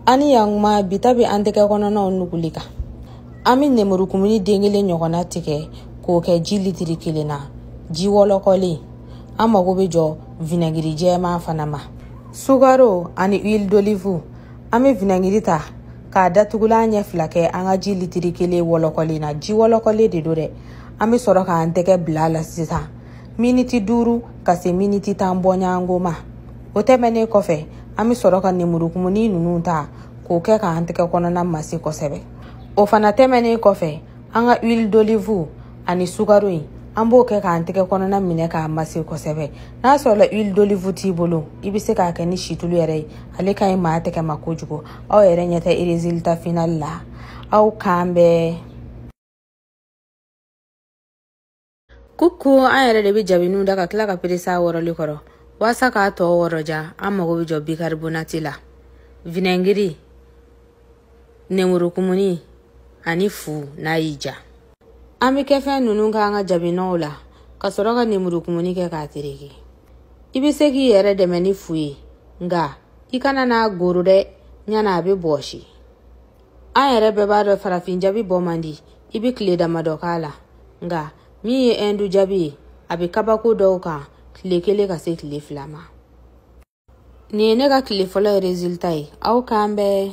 an ni yankuma bi ta bɛ an tɛgɛ kɔnɔnaw nuguli kan an bɛ nemurukumuni den kelen ɲɔgɔnna tigɛ k'o kɛ ji litiri kelen na ji wɔlɔkɔlen an mago bɛ jɔ vinɛgiri jɛman fana ma sukaro ani huile d'olive an bɛ vinɛgiri ta k'a datugulan ɲɛ fila kɛ an ka ji litiri kelen wɔlɔkɔlen na ji wɔlɔkɔlen de don dɛ an bɛ sɔrɔ k'an tɛgɛ bila a la sisan miniti duuru ka se miniti tan bɔɲɔgɔnko ma o tɛmɛnen kɔfɛ an bɛ sɔrɔ ka nemurukumuni ninnu ta k'o kɛ k'an tɛgɛ kɔnɔna masi kosɛbɛ o fana tɛmɛnen kɔfɛ an ka huile d'olive ani sukaro in an b'o kɛ k'an tɛgɛ kɔnɔna minɛ k'a mase kosɛbɛ n'a sɔrɔla huile d'olive t'i bolo i bɛ se k'a kɛ ni situlu yɛrɛ ye ale ka ɲi maa tɛgɛ ma kojugu aw yɛrɛ ɲɛ tɛ résultat final la aw k'an bɛn coucou an yɛrɛ de bɛ jabiniw da ka tila ka perese a wɔrɔli kɔrɔ waasa k'a tɔ wɔrɔ diya an mago bɛ jɔ bikaribonati la vinɛngiri nemurukumuni ani fu n'a y'i diya an bɛ kɛ fɛn ninnu k'an ka jabinɔw la ka sɔrɔ ka nemurukumuni kɛ k'a tereke i bɛ se k'i yɛrɛ dɛmɛ ni fu ye nka i kana n'a goro dɛ ɲana a bɛ bɔsi an yɛrɛ bɛɛ b'a dɔn farafin jabi bɔ man di i bɛ tile damadɔ k'a la nka min ye ɛndu jabi ye a bɛ kabako dɔw kan tile kelen ka se tile fila ma nin ye ne ka tile fɔlɔ ye résultat ye aw k'an bɛn